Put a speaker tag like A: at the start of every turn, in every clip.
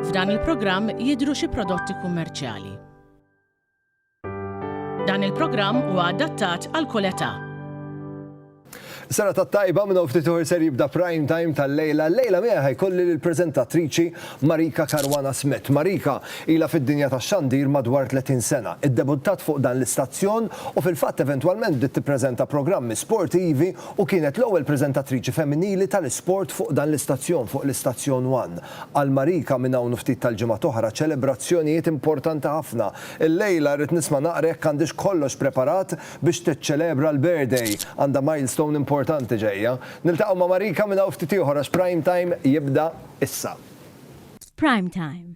A: F'dan il-programm jidhru xi prodotti kummerċjali. Dan il-programm huwa adattat għal kull età. Sena
B: ta' tajba minn ftit uħor ser jibda prime time tal-lejla. Lejla miegħi ħajkolli l-preżentatriċi Marika Karwana Smith. Marika ila fid-dinja ta' xandir madwar 30 sena. Iddebuttat fuq dan l-istazzjon u fil-fatt eventwalment bdiet tippreżenta programmi sportivi u kienet l-ewwel preżentatriċi femminili tal-isport fuq dan l-istazzjon, fuq l-istazzjon one. Għal Marika minn hawn u ftit tal-ġimgħat oħra ċelebrazzjonijiet importanti ħafna. Illejla rrid nisma' naqra jekk għandhiex kollox preparat biex tiċċelebra l-birthday. Għandha milestone importanti ġejja. Niltaqgħu ma' Marika minn hawn ftit ieħor għax Prime Time jibda issa. F'Prime
C: Time,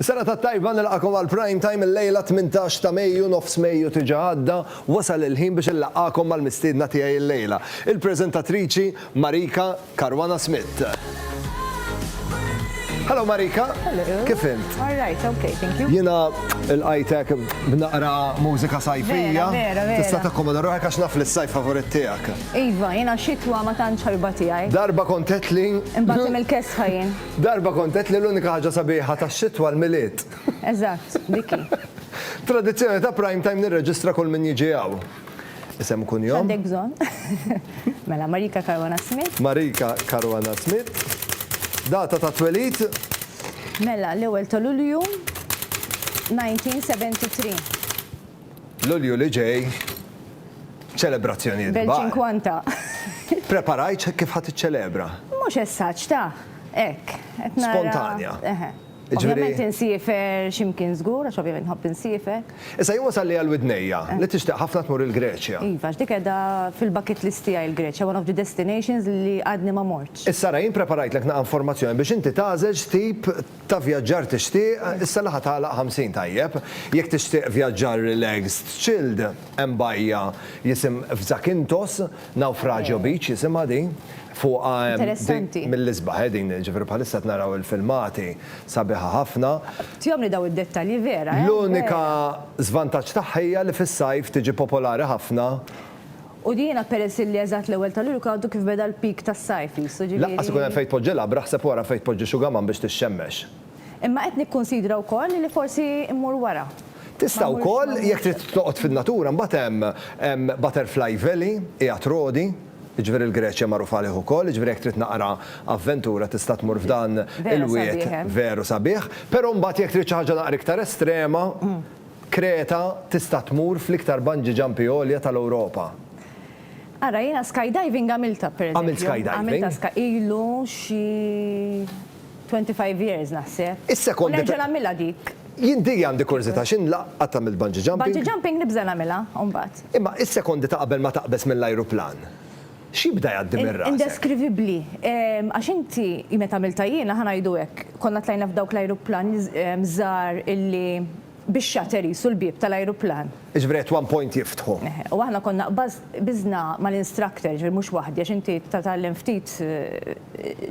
B: Is-sena tat-tajba nilqagħkom għal Prime Time illejla 18 ta' Mejju, nofs Mejju tiġa għadda, wasal il-ħin biex inlaqqagħkom mal-mistiedna tiegħi illejla, il-preżentatriċi Marika Caruana Smith. Hello Marika. Hello. Kif int?
D: All right,
B: okay, thank
D: you. Jina
B: il-qajtek b'naqra mużika sajfija. Vera, vera. Tista'
D: takkomoda ruħek
B: għax naf li s-sajf favorit tiegħek. Iva, jina
D: xitwa ma tantx ħarba tiegħi. Darba kontet li.
B: Imbagħad il-kesħa
D: jien. Darba kont għedt li
B: l-unika ħaġa sabiħa tax-xitwa l-Milied. Eżatt,
D: dik hi. Tradizzjoni
B: ta' Prime Time nirreġistra kull min jiġi hawn. Isem u kunjom? X'għandek bżonn?
D: Mela, Marika Caruana Smith. Marika Caruana
B: Smith. Data ta' twelid? Mela,
D: l-ewwel ta' Lulju, 1973.
B: Lulju li ġej, ċelebrazzjonijiet kbar. Bel-ċinkwanta.
D: Preparajt kif
B: ħa tiċċelebra? Mhux essaġġ
D: ta', hekk, qed nara. Spontanja.
B: Eħe. Ovvjament
D: insiefer xi mkien żgur, għax ovvjament nħobb insiefer. Issa jien wasalli għal
B: widnejja li tixtieq ħafna tmur il-Greċja. Iva, għax dik qiegħda
D: fil-bucket list tiegħi l-Greċja, one of the destinations li għadni ma mortx. Issa ara jien preparajtlek
B: naqa' informazzjoni biex inti tagħżel x'tip ta' vjaġġar tixtieq, issa li ħa tagħlaq 50 tajjeb, jekk tixtieq vjaġġar relaxed, chilled, hemm bajja jisim f'Zakynthos, Naufragio Beach jisimha din, fuqha hemm din mill-isbaħ eh din, ġifieri bħalissa qed naraw il-filmati, sabiħa ħafna. Tihomli dawn
D: id-dettalji vera eh. L-unika
B: żvantaġġ tagħha hija li fis-sajf tiġi popolari ħafna U
D: jiena peress illi eżatt l-ewwel ta' Lulju kien għadu kif beda l-peak tas-sajf qisu, ġifieri. Lanqas ikun hemm fejn
B: tpoġġi labra, ħseb wara fejn tpoġġi xugaman biex tixxemmex. Imma qed
D: nikkunsidra wkoll li forsi mmur wara. Tista' wkoll,
B: jekk trid toqgħod fin-natura, mbagħad hemm, hemm Butterfly Valley, qiegħed Rodi, jiġifieri l-Greċja magħruf għalih ukoll, jiġifieri jekk trid naqra avventura tista' tmur f'dan il-wied veru sabiħ. Però mbagħad jekk trid xi ħaġa naqra iktar estrema, Kreta tista' tmur fl-iktar bungee jumpi għolja tal-Ewropa.
D: Ara, jiena skydiving għamiltha, per eżempju. Għamilt skydiving? Għamiltha ska,
B: ilu
D: xi twenty five years naħseb. Is-sekondi. U nerġa' nagħmilha
B: dik.
D: Jien dik għandi
B: kurżità, x'in la qatt għamilt bungee jumping. Bungee jumping nibża' nagħmilha
D: mbagħad. Imma is-sekondi ta'
B: qabel ma taqbeż mill-ajruplan, X'jibda jgħaddi minn rasek? Indeskrivibbli.
D: Għax inti, meta għamiltha jiena, ħa ngħidu hekk, konna tlajna f'dawk l-ajruplani żgħar illi bix-shutter qisu l-bieb tal-ajruplan. Jiġifieri at one point
B: jiftħu. Eħe. U aħna konna qbaż
D: biżna mal-instructor, jiġifieri mhux waħdi għax inti tagħtallem ftit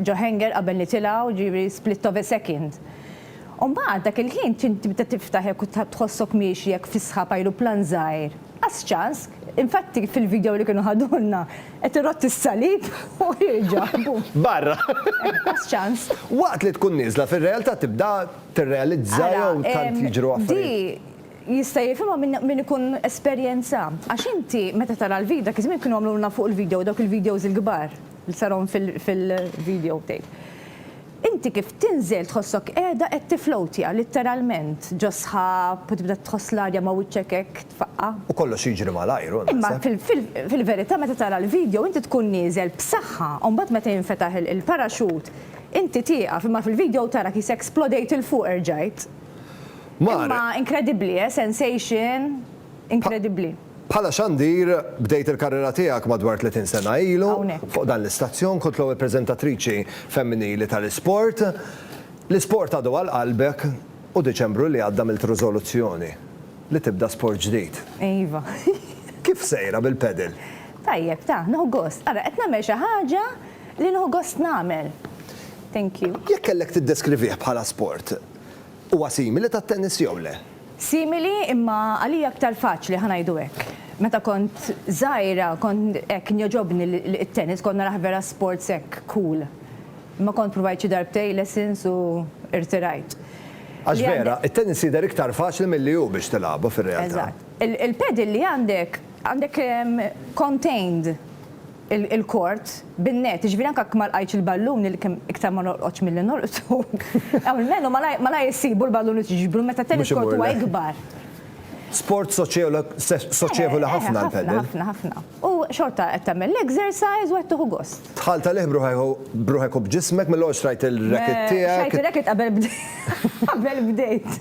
D: ġo hangar qabel nitilgħu, jiġifieri split of a second. U mbagħad dak il-ħin tibda tiftaħ jekk tħossok miexi hekk fis-sħab ajruplan żgħir. Għaż-ċask, infatti fil-video li kienu ħadulna qed irotti s-salib u jerġa' bum. Barra.
B: Għaż-ċans.
D: Waqt li tkun nieżla
B: fir-realtà tibda tirrealizza jew tant jiġru affarijiet. Ara, di jista' jifhimha
D: min ikun esperjenza. Għax inti meta tara l-video, dak iż-żmien kienu għamlulna fuq il-video dawk il-videos il-kbar li sarhom fil-video tape. Inti kif tinżel tħossok qiegħda qed tiflowtja, litteralment, ġo sħab u tibda tħoss l-arja ma' wiċċek hekk tfaqqa'. U kollox jiġri
B: malajr, hu, naħseb. Imma
D: fil-verità meta tara l-vidjow inti tkun nieżel b'saħħa u mbagħad meta jinfetaħ il-paraxut inti tieqaf imma fil-vidjow tara kisa eksplodejt 'il fuq erġajt. Mar. Imma inkredibbli, eh, sensation inkredibbli. Bħala xandir,
B: bdejt il-karriera tiegħek madwar 30 sena ilu. Hawnhekk. Fuq dan l-istazzjon kont l-ewwel preżentatriċi femminili tal-isport. L-isport għadu għal qalbek u Diċembru li għadda għamilt riżoluzzjoni li tibda sport ġdid. Iva.
D: Kif
B: sejra bil-padel? Tajjeb, ta,
D: nieħu gost. Ara, qed nagħmel xi ħaġa li nieħu gost nagħmel. Thank you. Jekk kellek tiddeskrivih
B: bħala sport, Huwa simili tat-tennis jew le? Simili
D: imma għalija aktar faċli, ħa ngħidu hekk. Meta kont żgħira kont hekk kien jogħġobni t-tennis, kont narah vera sports hekk cool. Imma kont provajt xi darbtejn lessons u irtirajt. Għax
B: vera, it-tennis jidher iktar faċli milli hu biex tilagħbu fir-realtà. Eżatt. Il-padel
D: li għandek, għandek contained. il-kort bin-net, jiġifieri anke jekk ma lqajtx il-ballun li kemm iktar ma norqodx milli norqdu, almenu malajr issibu l-ballun u tiġbru meta t-tennis court huwa ikbar. Sport
B: soċjevoli ħafna l-padel. Ħafna, ħafna. U
D: xorta qed tagħmel l-exercise u qed tieħu gost. Tħalt għalih
B: b'ruħek u b'ġismek mill-ewwel xtrajt ir-racket tiegħek. Xtrajt ir-racket qabel
D: bdejt. Qabel bdejt.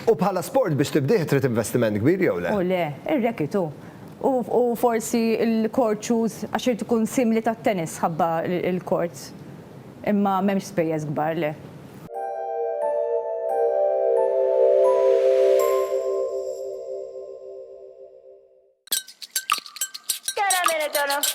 D: U bħala sport
B: biex tibdih trid investiment kbir jew le? U le, ir-racket hu.
D: U forsi l-court shoes għax irid ikun simili tat-tennis ħabba l-courts. Imma m'hemmx spejjeż kbar, le.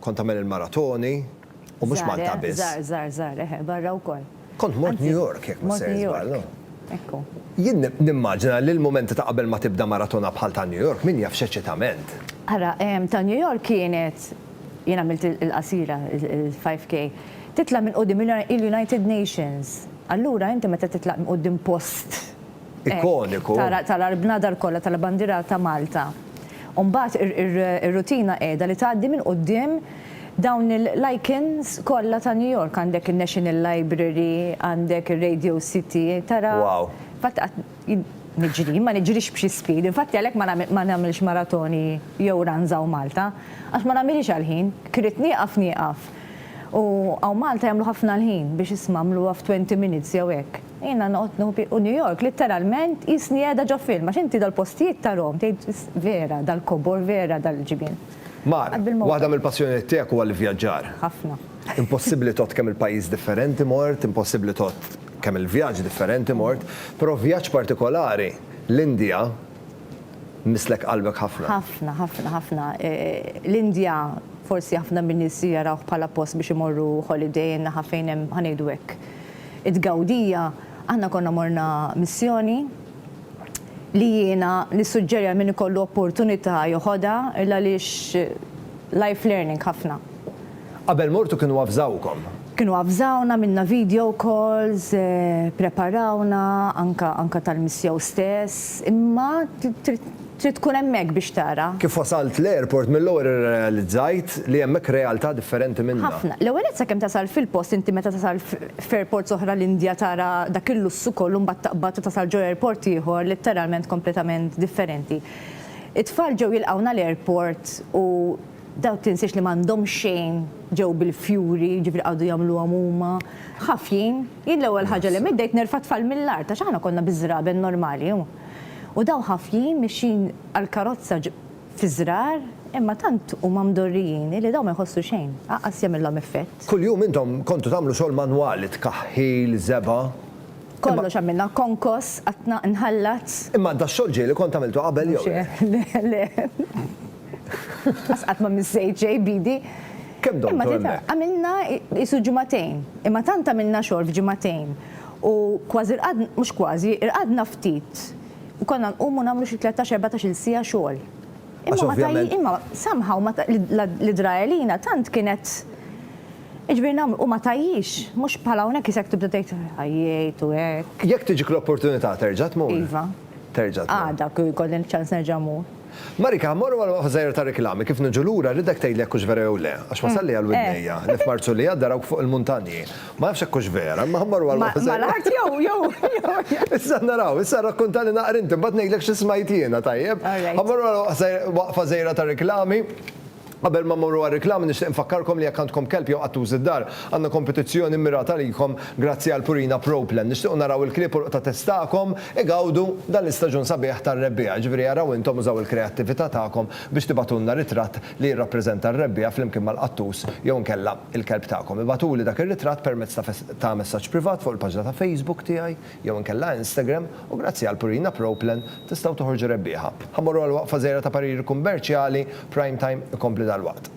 B: Kont tagħmel il-maratoni, u mhux Malta biss. Żgħar, żgħar, żgħar, żgħar, eħe, barra
D: wkoll. Kont mort New York,
B: jekk ma se niżball, no? Ekku.
D: Jien
B: nimmaġina li l-mumenti ta' qabel ma tibda maratona bħal ta' New York, min jaf x'eċitament! Ara,
D: ta' New York kienet, jien għamilt il-qasira, il-5K, titla' minn quddiem il-United Nations. Allura inti meta titla' minn quddiem post.
B: ikoniku. Tara l-bnadar
D: kollha tal-bandiera ta' Malta. U mbagħad ir-rutina qiegħda li tgħaddi minn quddiem dawn l-icons kollha ta' New York. Għandek in-National Library, għandek ir-Radio City, tara. Wow. Infatti qatt niġri, jien ma niġrix b'xi speed, infatti għalhekk ma nagħmilx maratoni jew runs hawn Malta, għax ma nagħmilhiex għall-ħin, jekk irrid nieqaf nieqaf. U hawn Malta jagħmlu ħafna l-ħin biex isma' għamluha f'20 minutes jew hekk. Jiena noqgħod nieħu pic u New York litteralment qisni qiegħda ġo film għax inti dal-postijiet tarahom tgħid vera dal-kobor vera dal-ġibien. Mar,
B: waħda mill-passjonijiet tiegħek huwa l-ivvjaġġar. Ħafna.
D: Impossibbli tgħodd
B: kemm il-pajjiż differenti mort, impossibbli tgħodd kemm il-vjaġġ differenti mort, però vjaġġ partikolari, l-Indja, misslek qalbek ħafna. Ħafna, ħafna, ħafna.
D: L-Indja forsi ħafna min-nies jarawh bħala post biex imorru holiday naħa fejn hemm, ħa ngħidu hekk, it-tgawdija, aħna konna morna missjoni li jiena nissuġġeri għal min ikollu opportunità joħodha għaliex life learning ħafna. Qabel
B: mortu kienu avżawkom? Kienu avżawna,
D: għamilna video calls, preparawna anke tal-missjeu stess, imma trid Trid tkun hemmhekk biex tara. Kif wasalt l-airport
B: mill-ewwel irrealizzajt li hemmhekk realtà differenti minnha. Ħafna. L-ewwel nett sakemm tasal
D: fil-post inti meta tasal f'airports oħra l-Indja tara dak il-lussu kollu mbagħad taqbad u tasal ġo airport ieħor litteralment kompletament differenti. It-tfal ġew jilqgħuna l-airport u daw tinsiex li m'għandhomx xejn ġew bil-fjuri jiġifieri qagħdu jagħmluhom huma ħafjin. Jien l-ewwel ħaġa li għamilt bdejt nerfa' t-tfal mill-art għax aħna konna biż-żraben normali u. U dawn ħafjin mixjin għall-karozza fiż-żrar, imma tant huma mdorrijin illi dawn ma jħossu xejn, aqqas jagħmilhom effett. Kuljum intom kontu
B: tagħmlu xogħol manwali, tkaħħil, żebgħa. Kollox
D: għamilna, konkos, qattna, inħallat. Imma dax-xogħol ġieli
B: kont għamiltu qabel jew le? Le, le.
D: Lanqas qatt ma missejt xejn b'idi. Kemm domtu
B: hemmhekk? Għamilna
D: qisu ġimagħtejn, imma tant għamilna xogħol f'ġimagħtejn. U kważi rqadna, mhux kważi, irqadna ftit u konna nqumu nagħmlu xi tlettax, erbatax-il siegħa xogħol. Imma ma tajjin, imma somehow l-idrajelina tant kienet Iġifieri nagħmlu u ma tajjix, mhux bħal hawnhekk isek tibda tgħid għajjejt u hekk. Jekk tiġik l-opportunità
B: terġa' tmur? Iva. Terġa'
D: tmur. Għada
B: kieku jkolli ċ-ċans
D: nerġa' mmur. Marika, ħa mmorru għal
B: waħda żgħira ta' riklami, kif niġu lura rridek tgħidli jekk hux vera jew le, għax wasalli għal widnejja li f'Marzu li għadda rawk fuq il-muntanji. Ma nafx jekk hux vera, imma ħa mmorru għal waħda żgħira. Mal-art jew, jew.
D: Issa naraw, issa
B: rrakkuntali naqra inti, imbagħad ngħidlek xi smajt jiena, tajjeb? Ħa mmorru għal waqfa żgħira ta' riklami. Qabel ma mmorru għar-riklami nixtieq infakkarkom li jekk għandkom kelb jew qattus id-dar, għandna kompetizzjoni mmirata għalikom grazzi għal Purina Pro Plan. Nixtiequ naraw il-klieb u l-qtates tagħkom igawdu dan l-istaġun sabiħ tar-rebbiegħa, jiġifieri araw intom użaw il-kreattività tagħkom biex tibatulna ritratt li jirrappreżenta r-rebbiegħa flimkien mal-qattus jew inkella il-kelb tagħkom. Ibatuli dak ir-ritratt permezz ta' messaġġ privat fuq il-paġna ta' Facebook tiegħi. jew inkella Instagram u grazzi għal Purina Pro Plan tistgħu toħorġu rebbieħa. Ħa mmorru għal waqfa żgħira ta' pariri kummerċjali, Prime Time ikompli dalwaqt.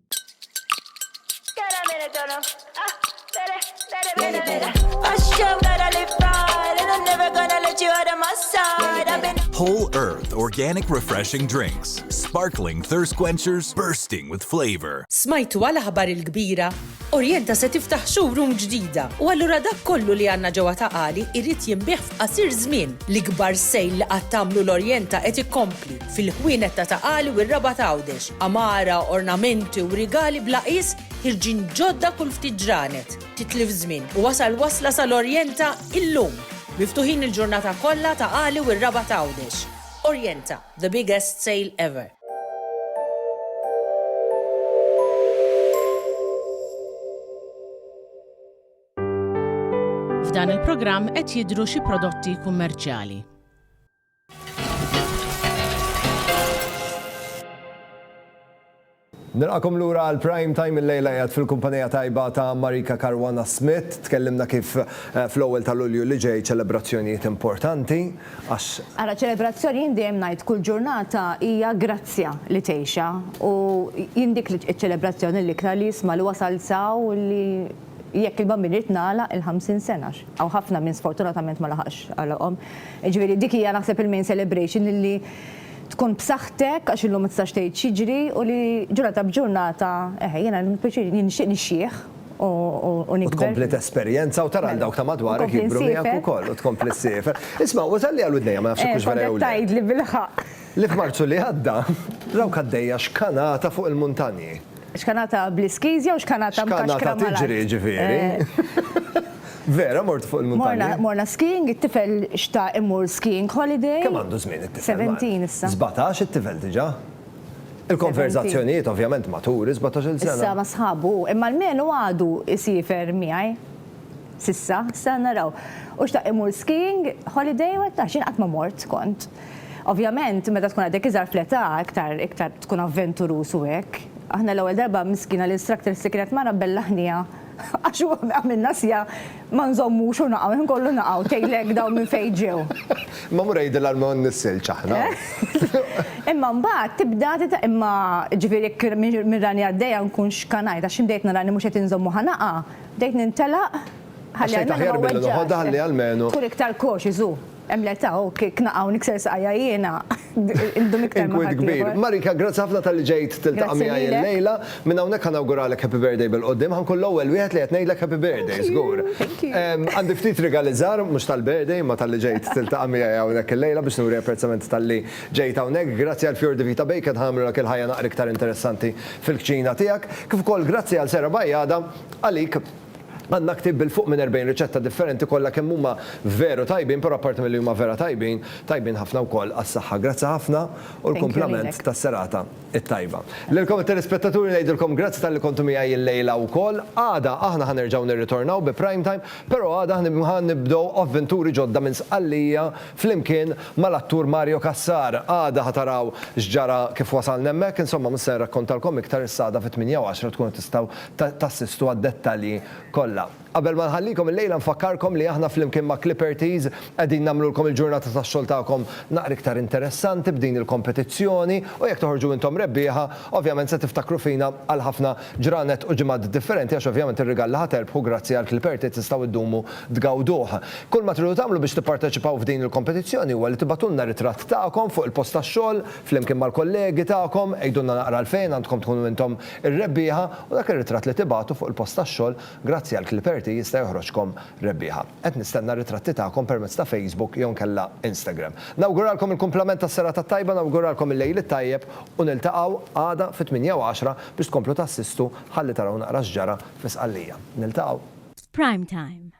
E: Whole Earth Organic Refreshing Drinks, sparkling thirst quenchers bursting with flavor. Smajtu għal aħbar
F: il-kbira? Orienta se tiftaħ showroom ġdida u allura dak kollu li għandna ġewwa ta' qali jrid jinbih f'qasir żmien. L-ikbar sejl li qatt għamlu l-Orienta qed ikompli. fil-ħwienet ta' Ta' Qali u r-Rabat Għawdex, għamara, ornamenti u rigali bla qies ħirġin ġodda kull ftit ġranet. Titlif żmien u wasal wasla sal-Orjenta illum! Miftuħin il-ġurnata kollha Ta' Qali u r-Rabat Għawdex. Orjenta, the biggest sale ever!
A: F'dan il-programm qed jidhru xi prodotti kummerċjali.
B: Nilqakom lura għal Prime Time illejla qiegħed fil-kumpanija tajba ta' Marika Caruana Smith. Tkellimna kif eh, fl-ewwel ta' Lulju li ġej ċelebrazzjonijiet importanti għax Ara ċelebrazzjoni
D: jien dejjem ngħid kull ġurnata hija grazzja li tgħixha u jien dik iċ-ċelebrazzjoni l-iktar li jisma' li wasal saw li jekk il-bambin irid nagħlaq il-50 sena hawn ħafna min sfortunatament ma laħaqx għalaqhom. Jiġifieri dik hija naħseb il-main celebration illi tkun b'saħħtek għax illum ma tistax tgħid x'jiġri u li ġurnata b'ġurnata eħe jiena jkolli pjaċir jien nixtieq nixjieħ u nikber. U tkompli tesperjenza
B: u tara lil dawk ta' madwarek jikbru miegħek ukoll u tkompli ssiefer. Isma' wasal li għal widnejja ma nafx hekk hux vera jew le. Kontet tgħidli bil-ħaqq.
D: Li f'Marzu li
B: għadda raw kaddejja xkanata fuq il-muntanji. Xkanata
D: bl-iskizja u xkanata mkaxkra mal-art. Xkanata tiġri ġifieri.
B: Vera mort fuq il-muntanja. Morna skiing, it-tifel
D: xtaq imur skiing holiday. Kemm għandu żmien
B: it-tifel? 17 issa.
D: 17 it-tifel diġa?
B: Il-konverżazzjonijiet ovvjament matur is-17 il sena. Issa ma' sħabu hu,
D: imma almenu għadu jsiefer miegħi. S'issa, s'sa naraw. U xtaq imur skiing holiday u għedtah, jien qatt ma mort kont. Ovvjament, meta tkun għadek iżgħar fl-età, iktar iktar tkun avventuruż u hekk. Aħna l-ewwel darba miskina l-instructor s'si kienet mara bella ħniha għax u għamilna sja ma nżommux u naqgħu, ħin kollu naqgħu, tgħidlek dawn minn fejn ġew. Imma mur għidilha
B: li ma nnissilx aħna.
D: Imma mbagħad tibda titgħallem, imma ġifieri jekk minn rani għaddejja nkun xkanajt għax xi bdejt nara li mhux qed inżomm u ħa naqa', Bdejt nintelaq Għax ħalli xejn għajnejna taħjar ma milli noħodha weġġax.
B: ħalli almenu. Tkun iktar cautious hu.
D: Hemm l-età hu kiek naqa' u nikser saqajja jiena indum iktar ma' Inkwiet kbir. ħaddieħor. Marika,
B: grazzi ħafna talli ġejt tiltaqa' Grazzi miegħi lilek. illejla. Minn hawnhekk ħa nawguralek Happy Birthday bil-quddiem. Ħa nkun l-ewwel wieħed li qed ngħidlek Happy Birthday, żgur. Thank you. Ehm, Għandi ftit rigali żgħar, mhux tal-birthday, imma talli ġejt tiltaqa' miegħi hawnhekk illejla biex nuri apprezzament talli ġejt hawnhekk. Grazzi għal Fior di Vita Bacon ħa jagħmlulek il-ħajja naqra iktar interessanti fil-kċina tiegħek. Kif ukoll grazzi għal Sera Bajada. Għalik, għandna ktieb bil-fuq minn erbgħin riċetta differenti kollha kemm huma veru tajbin, però apparti milli huma vera tajbin, tajbin ħafna wkoll għas-saħħa. Grazzi ħafna u l-kumplament tas-serata t-tajba. Lilkom it-telespettaturi ngħidilkom grazzi talli kontu miegħi illejla wkoll. Għada aħna ħa nerġgħu nirritornaw bi Prime Time, però għada ħa nibdew avventuri ġodda minn Sqallija flimkien mal-attur Mario Cassar. Għada ħa taraw x'ġara kif wasalna hemmhekk, insomma mhux se nrakkontalkom iktar issa għada fit-tmienja u għaxra tkunu tistgħu tassistu għad-dettalji kollha. Qabel ma nħallikom illejla nfakkarkom li aħna flimkien ma' Clippertys qegħdin nagħmlulkom il-ġurnata tax-xogħol tagħkom naqra iktar interessanti b'din il-kompetizzjoni u jekk toħorġu intom rebbieħa ovvjament se tiftakru fina għal ħafna ġranet u ġimgħat differenti għax ovvjament ir-rigal li ħa terbħu grazzi għal Clippertys tistgħu ddumu tgawduh. Kull ma tridu tagħmlu biex tipparteċipaw f'din il-kompetizzjoni huwa li tibagħtulna ritratt tagħkom fuq il-post tax-xogħol flimkien mal-kollegi tagħkom, għidulna naqra għalfejn għandkom tkunu intom Ir-rebbieħa u dak ir-ritratt li tibagħtu fuq il-post tax-xogħol grazzi għal Clipperty jista' joħroġkom rebbieħa. Qed nistenna r-ritratti tagħkom permezz ta' Facebook jew inkella Instagram. Nawguralkom il-kumplament tas-serata t-tajba, nawguralkom il-lejl it-tajjeb u niltaqgħu għada fit-tmienja u għaxra biex tkomplu tassistu ħalli taraw naqra x'ġara fi Sqallija. Niltaqgħu. F'Prime Time.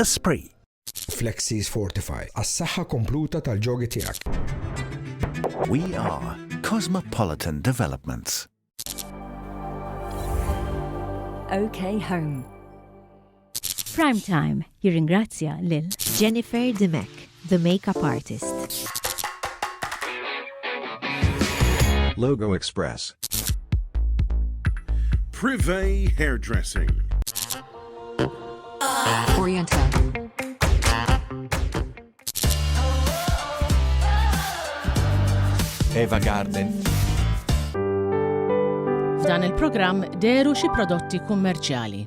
G: Esprit. Flexis
H: Fortify, għas-saħħa kompluta tal-ġogi tiegħek.
G: We are Cosmopolitan Developments.
C: OK Home. Prime Time jirringrazzja lil Jennifer Dimech, the makeup artist.
I: Logo Express.
J: Privé Hairdressing.
K: Oriental.
I: Eva Garden.
A: F'dan il-programm deru xi prodotti kummerċjali.